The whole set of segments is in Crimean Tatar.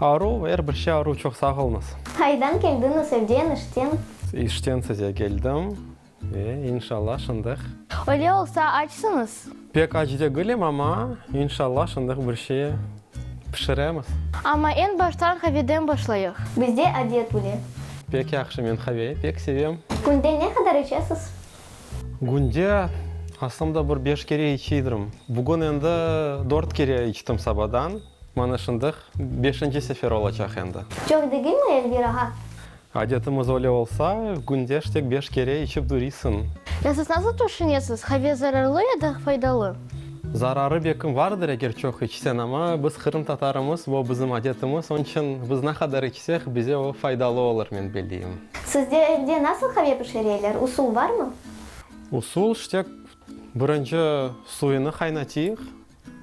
Aruv, er bir şey aruv, çoq sağolunız. Qaydan keldiñiz, evden, işten? İşten size keldim ve inşalla şındıq. Öyle olsa açsıñız? Pek aç degilim, amma inşalla şındıq bir şey pişiremiz. Amma eñ baştan haveden başlayıq. Bizde adet bile. Pek yahşı, men have pek sevem. Künde ne qadar içesiz? Künde aslında bir beş kere içidirm. Bugün endi dört kere içtim sabadan. Mana şındıq, beşinci sefer olacaq endi. Çoq degilmi, Elvira ha? Adetimiz öyle olsa, günde ştek beş kere içip durisiñ. Ya siz nasıl tüşünesiz, qave zararlı ya da faydalı? Zararı bekim vardır, eger çoq içsen, amma biz qırımtatarımız, bu bizim adetimiz, onıñ içün biz ne qadar içsek, bize o faydalı olur, men bildiğim. Sizde evde nasıl qave pişireler, usul barmı? Usul, ştek birinci suyunı qaynatıyıq.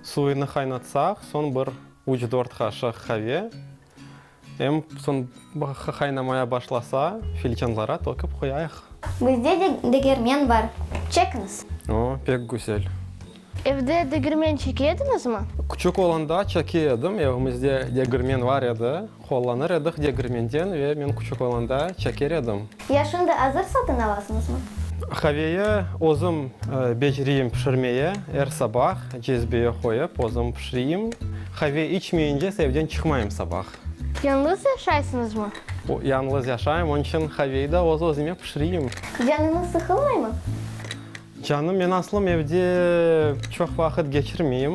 Suyını qaynatsaq, soñ bir üç-dört qaşıq qave, em soñ qaynamaya başlasa, filcanlara tökip qoyayıq. Bizde de degermen bar, çekiñiz. O, pek güzel. Evde degermen çeke ediñizmi? Küçük olanda çeke edim, evimizde degermen bar edi, Qollanır edik degirmenden ve men küçük olanda çeker edim. Ya şimdi azır satın alasıñızmı? Qaveye özüm beceriyim pişirmeye, er sabah cezbeye qoyıp özüm pişiriyim. Qave içmeyince evden çıqmayım sabah. Yañlız yaşaysıñızmı? Yañlız yaşayım, onıñ içün qaveyi da öz-özüme pişiriyim. Canıñız sıqılmaymı? Canım, men aslım evde çoq vaqıt keçirmeyim.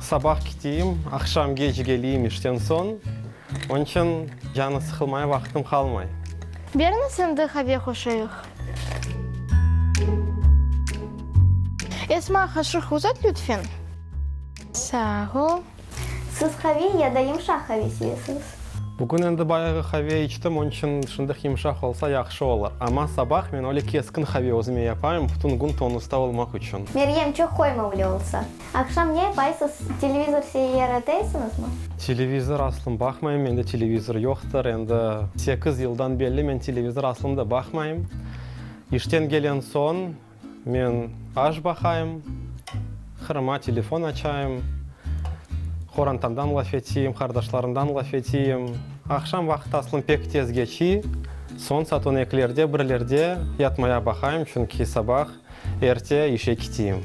Sabah kiteyim, aqşam geç geleyim işten soñ, onıñ içün canı sıqılmaya vaqıtım qalmay. Berniz endi qave qoşayıq. Esma, qaşıq uzat lütfen. Sağ ol. Siz qave ya da yımşaq qave sevesiñiz? Bugün endi bayağı qave içtim, onıñ içün şunday yımşaq olsa yahşı olar. Amma sabah men öyle keskin qave özüme yapayım, bütün kün tonusta olmaq içün. Meryem, çoq qoymavli olsa. Aqşam ne yapayısız, televizor seyir eteysiñizmi? Televizor aslım baqmayım, mende televizor yoqtır, endi sekiz yıldan belli men televizor aslım da baqmayım. İşten kelen soñ men aş baqayım, qırıma telefon açayım, qorantamdan laf eteyim, qardaşlarımdan laf eteyim. Aqşam vaqıt aslım pek tez keçiy, soñ saat on ekilerde, birlerde yatmaya baqayım, çünki sabah Erte işe kiteyim.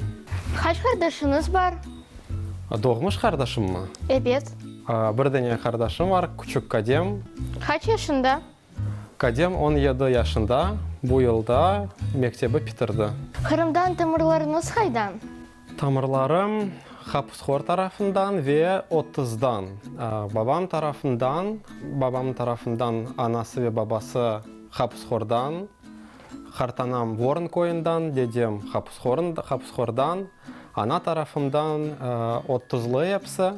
Qaç qardaşıñız bar? Doğmuş qardaşımmı? Ebet. Bir dene qardaşım bar, küçük Kadem. Qaç yaşında? Kadem on yedi yaşında, bu yılda mektebi pitirdi. Qırımdan tamırlarıñız qaydan? Tamırlarım Hapushor tarafından ve Otızdan. Babam tarafından, babamnıñ tarafından anası ve babası Hapushordan, Qartanam Vorn köyünden, dedem Hapushordan, ana tarafımdan Ottuzlı epsi.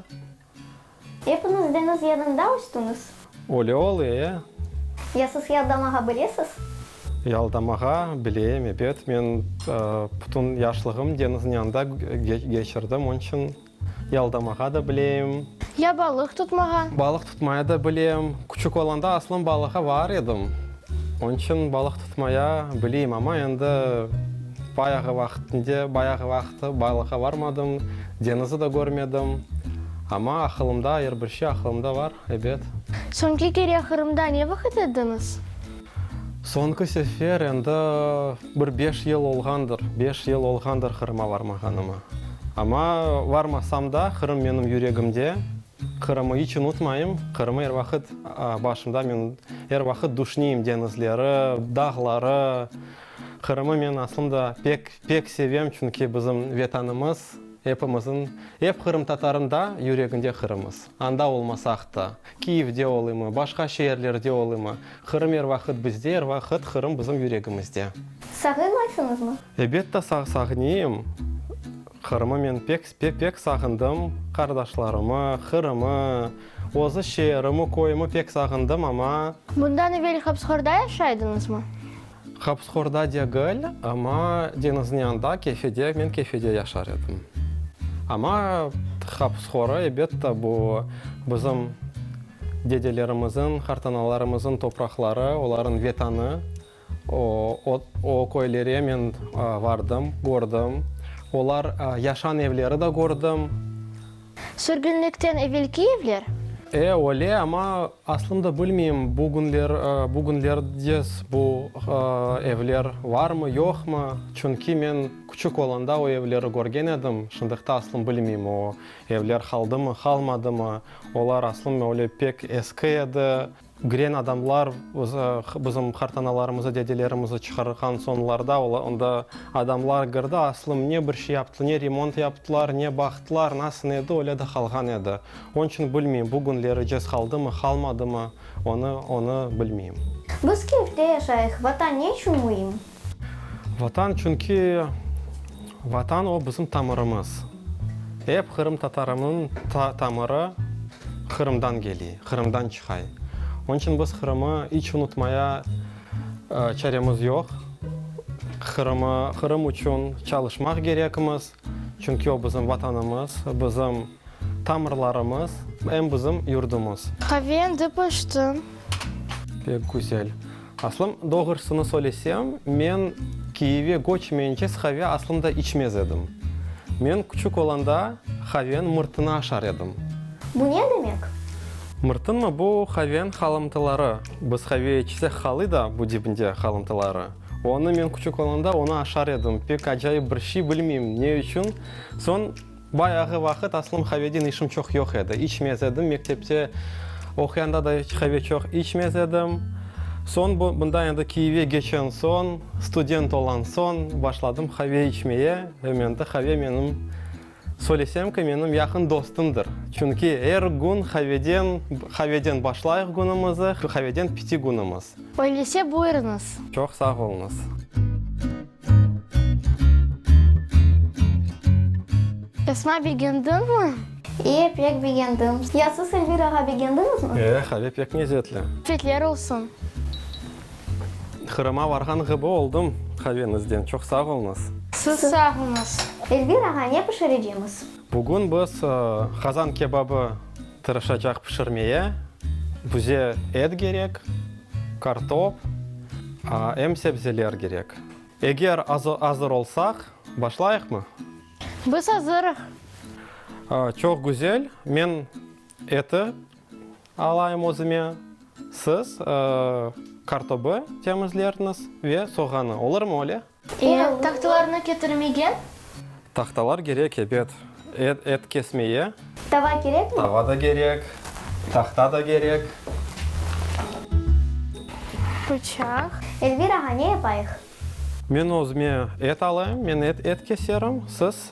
Epiñiz deñiz yanında östüñiz? Öyle ol, ee. Ya siz yaldamağa bilesiz? Yaldamağa bileyim, ebet. Men pütün yaşlığım deñizniñ yanında keçirdim, onıñ içün. Yaldamağa da bilem. Ya balıq tutmağa? Balıq tutmaya da bilem. Küçük olanda aslım balığa var edim. Onıñ içün balıq tutmaya bileyim, amma endi bayağı vaqıtında, bayağı vaqıt balığa barmadım, deñizi de körmedim. Amma aqılımda, er bir şey aqılımda var, ebet. Soñki kere Qırımda ne vaqıt ediñiz? Soñki sefer endi bir beş yıl olğandır, beş yıl olğandır Qırıma varmağanıma. Amma varmasam da, Qırım menim yüregimde, Qırımı iç unutmayım, Qırımı er vaqıt başımda, men er vaqıt duşneyim deñizleri, dağları. Qırımı men aslında pek, pek sevem, çünki bizim Vetanımız, epimizin, ep qırımtatarında yüreginde Qırımız. Anda olmasaq da. Kiyevde olimı, başqa şeerlerde olimı, Qırım er vaqıt bizde, er vaqıt Qırım bizim yüregimizde. Sağınaysıñızmı? Ebette sağ-sağniyim. Qırımı men pek, pek, pek sağındım. Qardaşlarımı, Qırımı, özü şeerimi, köyümi pek sağındım, amma. Bundan evel Habsgorda yaşaydıñızmı? Hapsxorda degil, amma deñizniñ yanında, kefede, men kefede yaşar edim. Amma hapsxorı, ebette, bu bizim dedelerimizniñ, qartanalarımızıñ topraqları, olarnıñ vetanı. O, o köylere men vardım, kördim. Olar yaşan evleri de kördim. Sürgünlikten evelki evler? E, öyle, amma Aslında bilmeyim, bugünlerdes bu evler varmı, yoqmı, çünki men küçük olanda o evleri körgen edim, şındıqta aslım bilmeyim, o evler qaldımı, qalmadımı, olar aslım öyle pek eski edi, giren adamlar bizim qartanalarımızı, dedelerimizi çıqarğan soñlarda onda adamlar kirdi, aslım ne bir şey yaptılar, ne remont yaptılar, ne baqtılar, nasıl edi, öyle de qalğan edi. Onıñ içün bilmeyim, bu künleri cez qaldımı, qalmadımı, onı, onı bilmeyim. Biz Kiyevde yaşayıq. Vatan ne içün müim? Vatan, çünki Vatan o, bizim tamırımız. Ep qırımtatarımnıñ ta, tamırı Qırımdan keliy, Qırımdan çıqay. Onıñ içün biz Qırımı iç unutmaya çaremiz yoq. Qırımı, Qırım içün çalışmaq kerekmiz. Çünki o bizim Vatanımız, bizim tamırlarımız, em bizim yurdumız. Qave endi pişti. Pek güzel. Aslım, doğrusını söylesem, men Kiyevge göçmeyince qave aslım da içmez edim. Men küçük olanda qaven mırtını aşar edim. Bu ne demek? Mırtınmı? Bu qaven qalımtıları. Biz qave içsek qalı da bu dibinde qalımtıları. Onı men küçük olanda onı aşar edim, pek acayip bir şiy, bilmeyim, ne içün. Soñ bayağı vaqıt aslım haveden işim çoq yoq edi, içmez edim, mektepte oquyanda da iç have çoq içmez edim. Soñ bu, bunda endi Kiyevge keçen soñ, student olan soñ başladım have içmeye, ve mende have menim, Söylesem ki, menim yaqın dostumdır. Çünki er gün qaveden, qaveden başlayıq günümizi, qaveden piti günümiz. Öyleyse buyurıñız. Çoq sağ oluñız. Esma, begendiñmi? İ, pek begendim. Ya siz, Elvirağa, begendiñizmi? E, qave pek nezzetli. Afiyetler olsun. Qırım'a varğan ğibi oldım. Qaveñizden çoq sağ olñız. Siz sağñız. Elvir ağa, ne pişirecemiz? Bugün biz qazan kebabı tırışacaq pişirmeye. Bize et gerek, kartop, em sebzeler gerek. Eger azır olsaq, başlayıqmı? Biz azırıq. Çoq güzel. Men Eti alayım özüme. Siz kartobı temizlerniz ve soğanı, olurmı öyle? E, tahtalarnı ketirmegen? Tahtalar kerek, ebet. Et kesmeye. Tava kerekmi? Tava da kerek, tahta da kerek. Pıçaq. Elvir ağa, ne yapayıq? Men özüme et alayım, men et keserim, siz.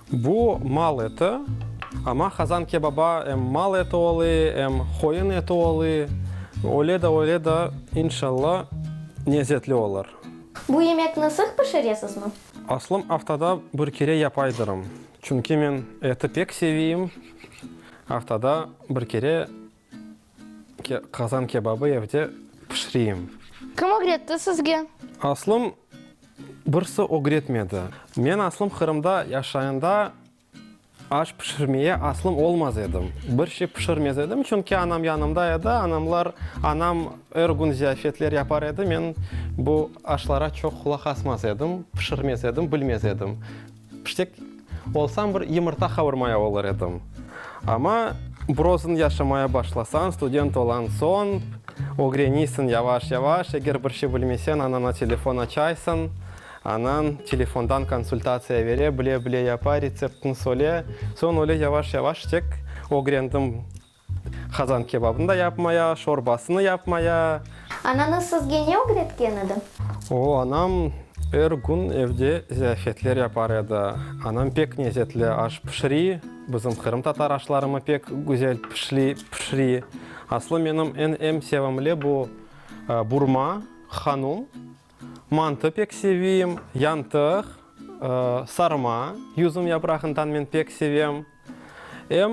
Bu mal eti, amma qazan kebaba em mal eti olı, em qoyun eti olı. Öyle de öyle de, inşalla, nezetli olur. Bu yemekni sıq pişiresizmi? Aslım aftada bir kere yapaydırım, çünki men eti pek seviyim, aftada bir kere. Qazan kebabı evde pişireyim. Kim ögretti sizge? Aslım, birisi ögretmedi. Men aslım Qırımda yaşayında aş pişirmeye aslım olmaz edim. Bir şey pişirmez edim, çünki anam yanımda edi. Anamlar, anam er kün ziyafetler yapar edi, men bu aşlara çoq qulaq asmaz edim, pişirmez edim, bilmez edim. Piştek olsam bir yımırta qavurmaya olur edim. Amma brozın yaşamaya başlasañ, student olan soñ, ögreniysiñ yavaş-yavaş, eger bir şey bilmesen, anana telefon açaysıñ, anan telefondan konsultatsiya bere, bile-bile yapa, retseptini söyle. Soñ öyle yavaş-yavaş tek ögrendim. Qazan kebabını da yapmaya, şorbasını yapmaya. Anañız sizge ne ögretken edi? O, anam er kün evde ziyafetler yapar edi. Anam pek nezetli aş pişiri, bizim qırımtatar aşlarımı pek güzel pişiri. Aslı menim eñ sevimli bu burma, hanum. Mantı pek sevim, yantıq, sarma, yüzüm yaprağından men pek sevem. Em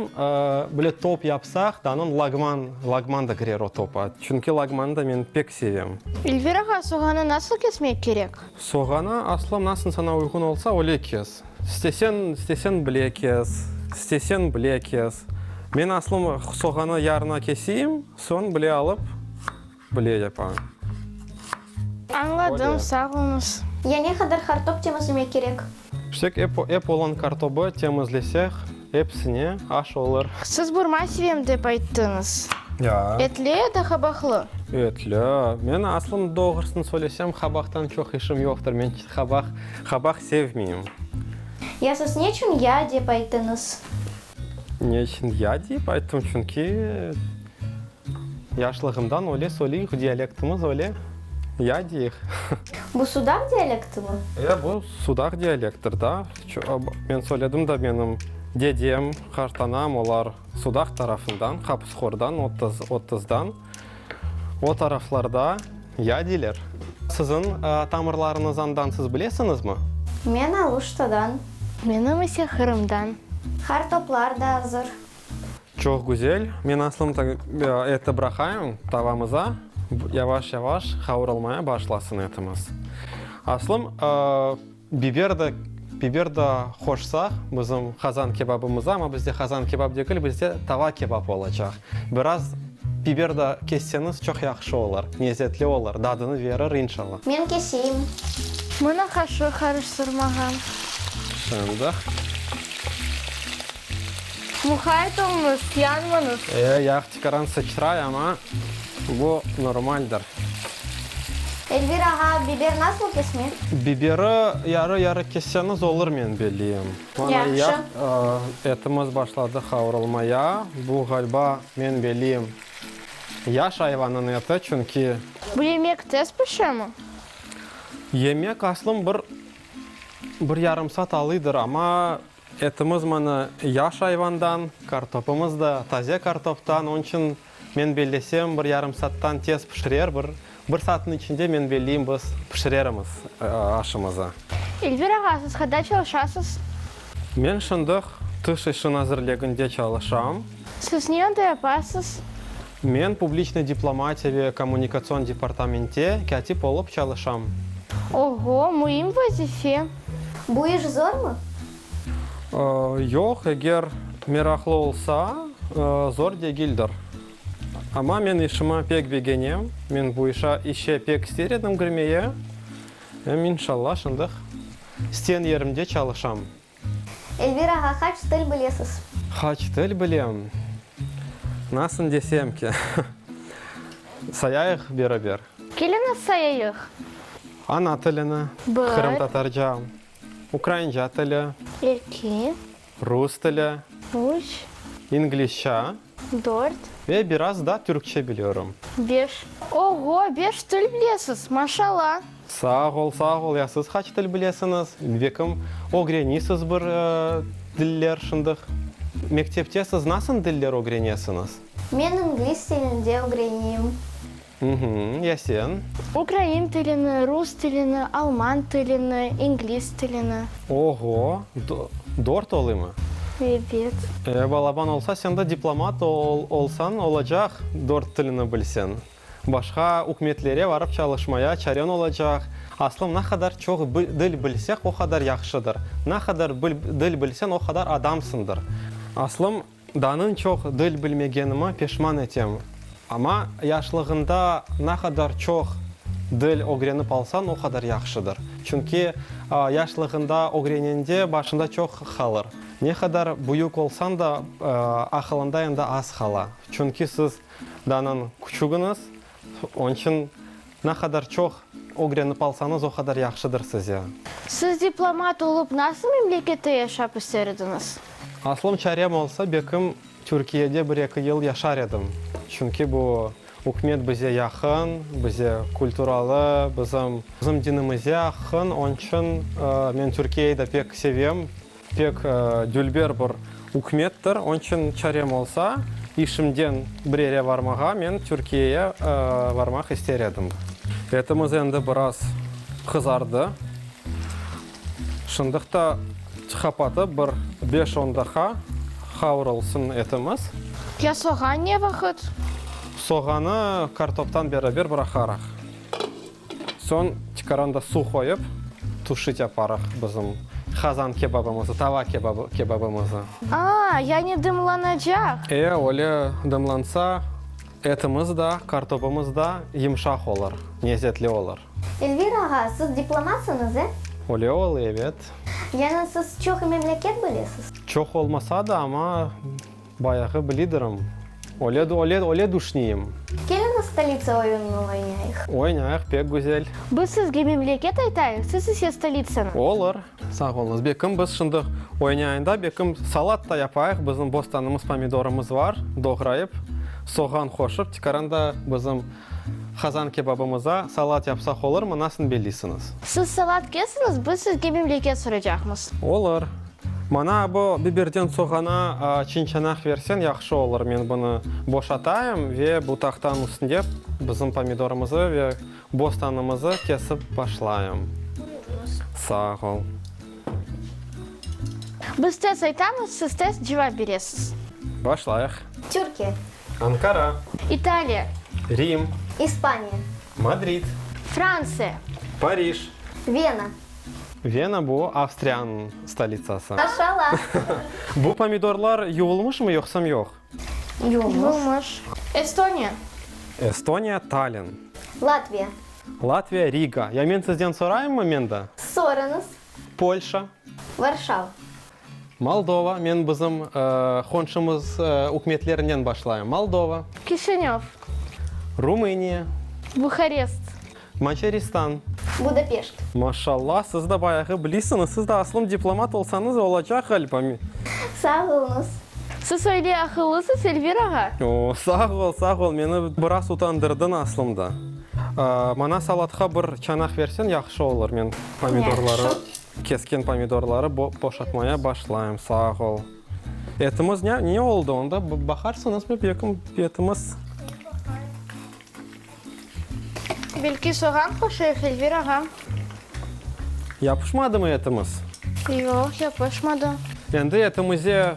böyle top yapsaq, danın lagman, lagman da kirer o topa. Çünki lagmanı da men pek sevem. Elvir ağa, soğanı nasıl kesmek kerek? Soğanı aslı nasıl sana uyğun olsa, öyle kes. İstesen, istesen bile kes, istesen bile kes. Men aslım soğanı yarına keseyim, soñ bile alıp. Bile yapa. Añladım, sağ oluñız. Ya ne qadar qartob temizlemek kerek? Pişsek ep olan qartobı temizlesek, epsine aş olur. Siz burma sevem dep ayttıñız. Ya. Etli ya da qabaqlı? Etli. Men aslında doğrusını söylesem, qabaqtan çoq işim yoqtır. Men qabaq, qabaq sevmeyim. Ya siz ne içün ya dep ayttıñız? Ne içün ya dep ayttım? Çünki. Yaşlığımdan öyle söyleyüq, dialektimiz öyle, ya deyik. Bu sudaq dialektimi? Ya, bu sudaq dialekttir da. Men söyledim da, menim dedem, qartanam, olar sudaq tarafından, Qapısqordan, Otızdan. O taraflarda ya deyler. Siziñ tamırlarıñız andan siz bilesiñizmi? Men Aluştadan. Menim ise Qırımdan. Qartoplar da azır. Çoq güzel. Men aslında eti bıraqayım tavamıza, yavaş-yavaş qavurılmaya başlasın etimiz. Aslım, biber de, biber de qoşsaq bizim qazan kebabımıza, amma bizde qazan kebab degil, bizde tava kebab olacaq. Biraz biber de kesseniz çoq yahşı olar, lezetli olar, dadını verir, inşallah. Men keseyim. Mına qaşıq qarıştırmağa. Şimdi. Muhayt olunız, yanmanız. E, yağ tikaran sıçray, ama bu normaldir. Elvir ağa, biber nasıl kesmek? Biberi yarı-yarı kesseñiz olur, men bileyim. Mana yağ, etimiz başladı qavrulmaya. Bu, ğalba, men bileyim, yaş ayvanıñ eti, çünki. Bu yemek tez pişemi? Yemek, aslım, bir bir yarım saat alıydır, ama Etimiz mına yaş ayvandan, kartopımız da taze kartoptan, onıñ içün men bellesem, bir yarım saattan tez pişirer, bir bir saatniñ içinde, men belleyim, biz pişirerimiz aşımızı. Elvir ağa, siz qada çalışasız? Men şimdiq Tış işi nazirliginde çalışam. Siz ne onda yapasız? Men publiçnıy diplomatiya ve kommunikatsion departamentde kâtip olıp çalışam. Oho, müim vazife! Bu iş zormı? Yoq, eger meraqlı olsa, zor degildir. Amma men işimi pek begenem, men bu işe işe pek ister edim kirmeye. Em, inşallah, şındıq isten yerimde çalışam. Elvir ağa, qaç til bilesiz? Qaç til bilem? Nasın desem ki? Sayayıq beraber. Keliniz sayayıq. Ana tilini, qırımtatarca, ukrainca tili. Eki. Rus tili. Üç. İngilizca. Dört. Ve biraz da türkçe biliyorum. Beş. Oğo, beş til bilesiz, maşalla! Sağ ol, sağ ol! Ya siz qaç til bilesiñiz? Bekim, ögrenisiz bir diller şındıq. Mektepte siz nasın diller ögrenesiñiz? Men ingliz tilinde ögreniyim. Ya sen? Ukrain tilini, rus tilini, alman tilini, ingliz tilini. Oho, dört olimı? Ebet. E, balaban olsa, sen de diplomat olsañ olacaq, dört tilini bilseñ. Başqa ükümetlere barıp çalışmaya çareñ olacaq. Aslım, ne qadar çoq dil bilseq, o qadar yahşıdır. Ne qadar dil bilseñ, o qadar adamsıñdır. Aslım. Danın çoq dil bilmegenime peşman etem. Amma yaşlığında ne qadar çoq dil ögrenip alsañ, o qadar yahşıdır. Çünki yaşlığında ögrenende başında çoq qalır. Ne qadar büyük olsañ da, aqılında endi az qala. Çünki siz danın küçügiñiz, Onı içün ne qadar çoq ögrenip alsañız, o qadar yahşıdır size. Siz diplomat olıp nasıl memlekette yaşap ister ediñiz? Aslım çarem olsa, bekim Türkiyede bir-eki yıl yaşar edim. Çünki bu ükümet bize yaqın, bize kulturalı, bizim dinimize aqın. Onı içün men Türkiyeyı da pek sevem. Pek dülber bir ükmettir, onıñ içün çarem olsa, işimden bir yere barmağa men Türkiyeye barmaq ister edim. Etimiz endi biraz qızardı. Şındıq ta qapatıp bir beş-on daqa qavrulsın etimiz. Ya soğan ne vaqıt? Soğanı kartoptan beraber bir aqarıq. Soñ tikaranda suv qoyıp, tuşit yaparıq bizim qazan kebabımızı, tava kebabımızı. Aa, yani dımlanacaq? E, öyle dımlansa, etimiz da, kartopımız da yımşaq olur, nezetli olur. Elvir ağa, siz diplomatsıñız, e? Öyle olı, evet. Yani siz çoq memleket bilesiz? Çoq olmasa da, amma. Bayağı blidirim. Oled, oled, oled uşniyim. Keliñiz stolitsa oyunını oynayıq. Oynayıq, pek güzel. Biz sizge memleket aytayıq, siz ise stolitsanı. Olur. Sağ oluñız. Bekim biz şimdi oynayında bekim salat da yapayıq. Bizim bostanımız pomidorımız var, doğrayıp, soğan qoşıp, tikaran da bizim Qazan kebabımıza salat yapsaq olurmı? Nasıl belliysiniz? Siz salat kesiñiz, biz sizge memleket soracaqmız. Olur. Mana bu biberden soğana çinçanaq versen yahşı olur. Men bunı boşatayım ve bu tahtanıñ üstünde bizim pomidorımızı ve bostanımızı kesip başlayım. Sağ ol. Biz tez aytamız, siz tez cevap beresiz. Başlayıq. Türkiye. Ankara. İtaliya. Rim. İspaniya. Madrid. Fransiya. Parij. Vena. Vena, bu Avstriyanıñ stolitsası. Maşalâ. Bu pomidorlar yuvulmışmı yoqsam yoq? Yuvulmış. Estoniya. Estoniya, Tallinn. Latviya. Latviya, Riga. Ya men sizden sorayımmı, men de? Sorañız. Polşa. Varşava. Moldova, men bizim qonşumız ükümetlerinen başlayım, Moldova. Kişinöv. Rumıniya. Buharest. Macaristan. Budapeşt. Maşallah, siz de bayağı bilisiñiz, siz de aslım diplomat olsañız olacaq ğalba. Sağ oluñız. Siz öyle aqıllısız, Elvir ağa. Oo, sağ ol, sağ ol, meni biraz utandırdıñ aslında. Mana salatqa bir çanaq versen, yahşı olur, men. Pomidorları, kesken pomidorları boşatmaya başlayım. Sağ ol. Etimiz ne oldı onda? Baqarsıñız mı bekim etimiz? Belki soğan qoşayıq, Elvir ağa? Yapışmadı mı etimiz? Yoq, yapışmadı. Endi etimize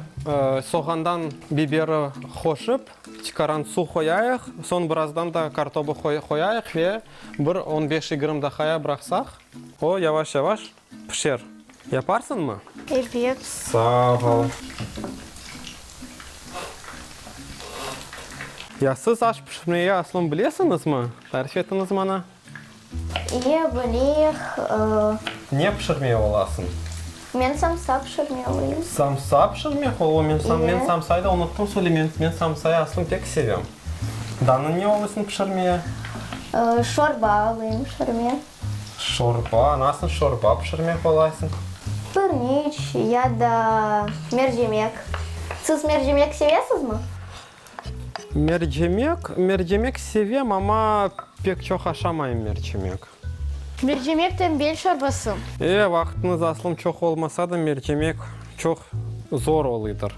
soğandan biberi qoşıp, çıqaran suv qoyayıq. Soñ birazdan da kartobı qoyayıq ve Bir on beş-yigirm daqaya bıraqsaq. O, yavaş-yavaş pişer. Yaparsıñmı? Ebet. Sağ ol. Ya siz aş pişirmege asılın bilesiñizmi? Tarif etiñiz mana. İye, bileyik. Ne pişirmey olasıñ? Men samsa pişirmeliyim. Samsa pişirmek ol, o men sam, men İyi. samsayı da unuttım söyle, men, men samsayı aslım pek sevem. Danı ne alıysıñ pişirmeye? Ee, şorba alayım pişirmeye. Şorba, nasıl şorba pişirmek olaysıñ? Pirniç ya da mercimek. Siz mercimek sevesizmi? Mercimek, mercimek sevem, amma pek çoq aşamayım mercimek. Mercimek tembel çorbası. E, vaqıtınız aslım çoq olmasa da, mercimek çoq zor olıdır.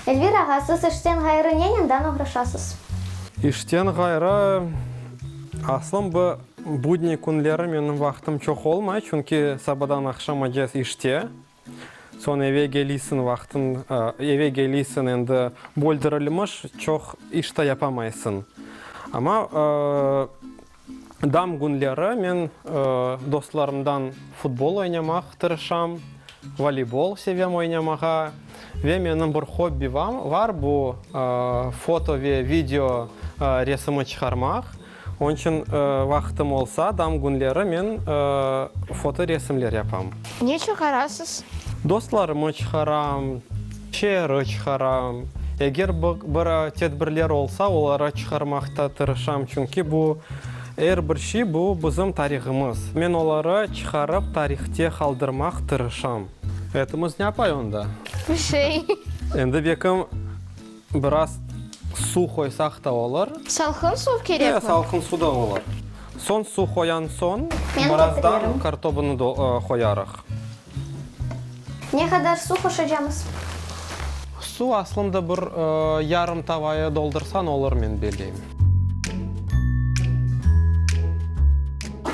Elvir ağa, siz işten ğayrı nenen dan oğraşasız? İşten ğayrı, aslım bu budniy künleri menim vaqıtım çoq olmay, çünki sabadan aqşamacez işte. Soñ eve keliysiñ vaqtın, eve keliysiñ endi böldirilmiş, çoq iş ta yapamaysıñ. Amma dam künleri men dostlarımdan futbol oynamaq tırışam, voleybol sevem oynamağa. Ve menim bir hobbi var, bu foto ve video resimi çıqarmaq. Onçün vaqıtım olsa, dam günleri men fotoresimler yapam. Ne çıqarasız? Dostlarımı çıqaram, şeeri çıqaram. Eger bir tedbirler olsa, oları çıqarmaqta tırışam, çünki bu, er bir şey, bu, bizim tarihımız. Men oları çıqarıp, tarihte qaldırmaq tırışam. Etimiz ne apay onda? Bir şey. Endi bekim. Biraz suv qoysaq da olur. Salqın suv kerekmi? Ee, salqın suv da olur. Soñ suv qoyan soñ, birazdan kartobını da qoyarıq. Ne qadar suv qoşacamız? Suv aslında bir yarım tavaya doldursañ olur, men beleyim.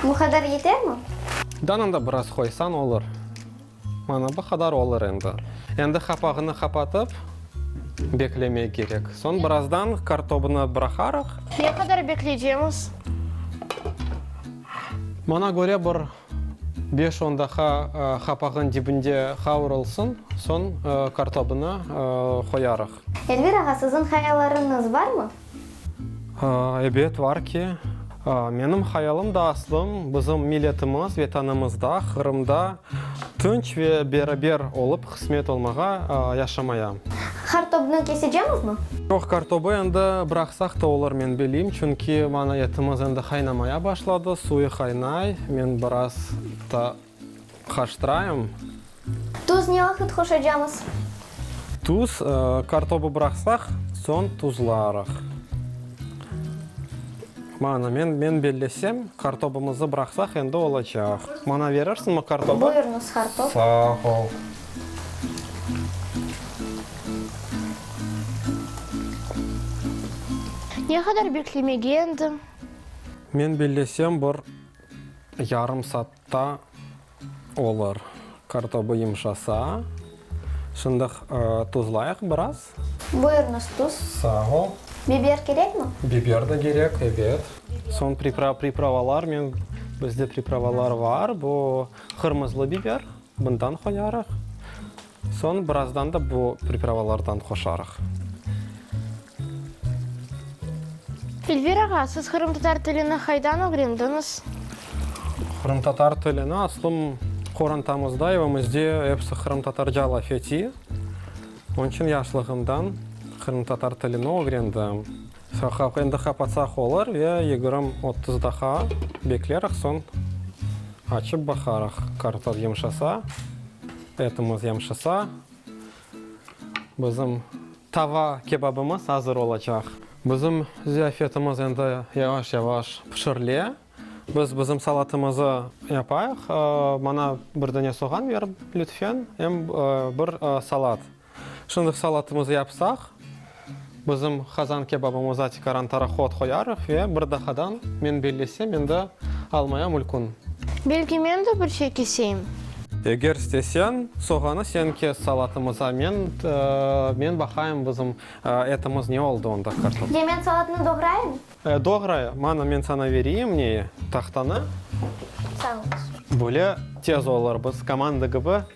Bu qadar yetermi? Danında biraz qoysañ olur. Mana bu qadar olur endi. Endi qapağını qapatıp beklemek kerek. Soñ birazdan kartobını bıraqarıq. Ne qadar bekleycemiz? Maña köre bir beş-on daqa qapağın dibinde qavrulsın, soñ kartobını qoyarıq. Elvir ağa, siziñ hayallarıñız barmı? Ebet, var ki. Menim hayalım da aslım bizim milletimiz, Vetanımızda, Qırımda tınç ve beraber olıp qısmet olmağa, yaşamaya. Qartobnı kesecemizmi? Yoq, qartobı endi bıraqsaq da olur, men bileyim, çünki mana etimiz endi qaynamaya başladı, suyı qaynay, men biraz da. Qarşıtırayım. Tuz ne vaqıt qoşacamız? Tuz, kartobı bıraqsaq, soñ tuzlarıq. Mana, men, men bellesem, kartobımızı bıraqsaq, endi olacaq. Maña berirsiñmi kartobı? Buyurıñız, kartob. Sağ ol. Ne qadar beklemege endi? Men bellesem, bir yarım saat Ta olur. Kartobu yımşasa, şındıq tuzlayıq biraz. Buyurıñız, tuz. Sağ ol. Biber kerekmi? Biber de kerek, ebet. Soñ pripravalarnen, bizde pripravalar var, bu qırmızlı biber, bundan qoyarıq. Soñ birazdan da bu pripravalardan qoşarıq. Elvir ağa, siz qırımtatar tilini qaydan ögrendiñiz? Qırımtatar tilini aslım qorantamızda, evimizde episi qırımtatarca laf ete. Onıñ içün yaşlığımdan qırımtatar tilini ögrendim. Endi qapatsaq olur ve yigirmi otuz daqiqa beklerik, soñ açıp baqarıq. Kartof yumşasa. Etimiz yamşasa, bizim tava kebabımız azır olacaq. Bizim ziyafetimiz endi yavaş-yavaş pişirile. Biz bizim salatımızı yapayıq. Mana bir dane soğan berip, lütfen, em bir salat. Şındık salatımızı yapsaq, bizim qazan kebabımıza tikaran taraqot qoyarıq ve bir daqadan, men bellesem, endi almaya mülkün. Belki men de bir şey keseyim? Eger isteseñ, soğanı sen kes salatımıza, men, men baqayım bizim etimiz ne oldı onda, kartof. Ya men salatnı doğrayım? E, doğray, mana men saña vereyim neyi, tahtanı. Sağ olasıñ. Böyle tez olur, biz komanda kibi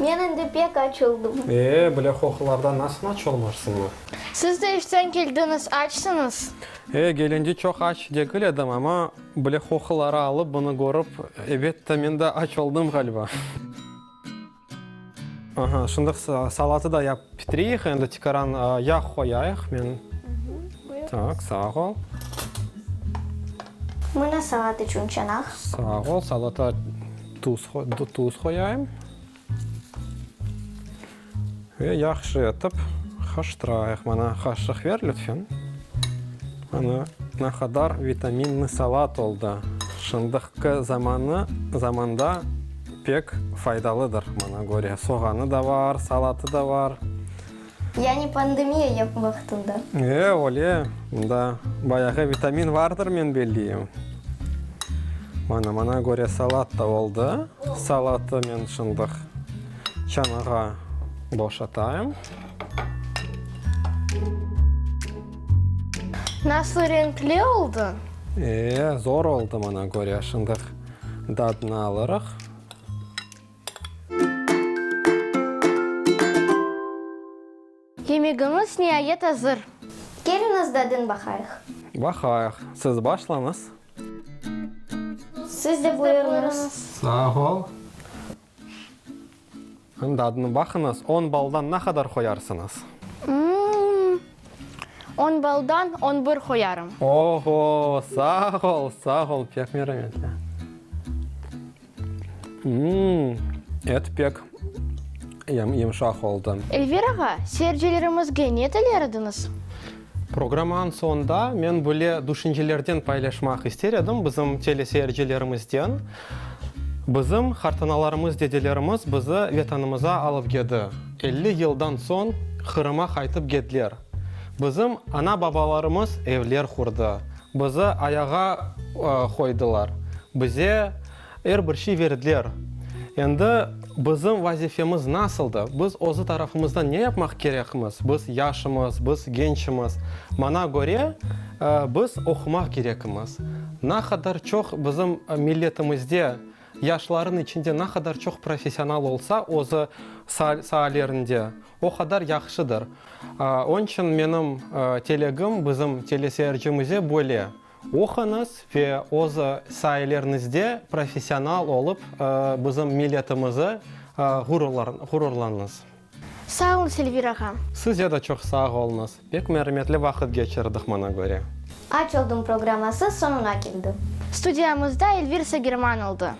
Men endi pek aç oldım. E, bile hohlardan nasıl aç olmarsıñız? Siz de işten keldiñiz, açsıñız. E, gelende çoq aç degil edim, amma bile hohları alıp bunı körip, ebet de, men de aç oldım ğaliba. Aha, şındıq salatı da yap pitireyik, endi tikaran yağ qoyayıq. Men, tak, sağ ol. Mına salat içün çanaq. Sağ ol. Salata tuz tuz qoyayım. Ve yahşı etip haştırayıq. Mana qaşıq ver lütfen. Ana ne qadar vitaminniy salat oldı. Şındıqqı zamanı zamanda pek faydalıdır. Mana göre, soğanı da bar, salatı da bar. Yani pandemiya yapı vaqtında? E, öyle. Bunda bayağı vitamin vardır, men belliyim. Mana, mana köre salat da oldı. Salatı men şındıq çanağa boşatayım. Nasıl renkli oldı? E, zor oldı, mana köre. Şındıq dadını alırıq. Yemegiñiz niayet azır. Keliñiz dadın baqayıq. Baqayıq. Siz başlañız. Siz de buyurıñız. Sağ ol. Hım, dadına baqıñız. On baldan ne qadar qoyarsıñız? On baldan on bir qoyarım. Oho, sağ ol, sağ ol, pek merametli. Et pek yımşaq oldı. Elvir ağa, seyircilerimizge ne tiler ediñiz? Programmanıñ soñunda men böyle düşüncelerden paylaşmaq ister edim bizim teleseyircilerimizden. Bizim qartanalarımız, dedelerimiz bizi Vetanımıza alıp gedi, elli yıldan soñ Qırıma qaytıp gediler. Bizim ana-babalarımız evler qurdı, Bizi ayağa qoydılar. Bize er bir şey verdiler. Endi bizim vazifemiz nasıldı? Biz özü tarafımızdan ne yapmaq kerekmiz? Biz yaşımız, biz gençimiz. Mana köre, biz oqumaq kerekmiz. Na qadar çoq bizim milletimizde, yaşların içinde na qadar çoq professional olsa özü saalerinde, O qadar yahşıdır. Onıñ içün menim telegim bizim teleseyircimize böyle, oquñız ve öz sayelerinizde professional olıp bizim milletimizi ğururlanıñız. Sağ olun Selvir ağa. Size de çoq sağ oluñız. Pek mermetli vaqıt geçirdik maña köre. Aç oldım programması soñuna keldi. Studiyamızda Elvir Sagerman oldı.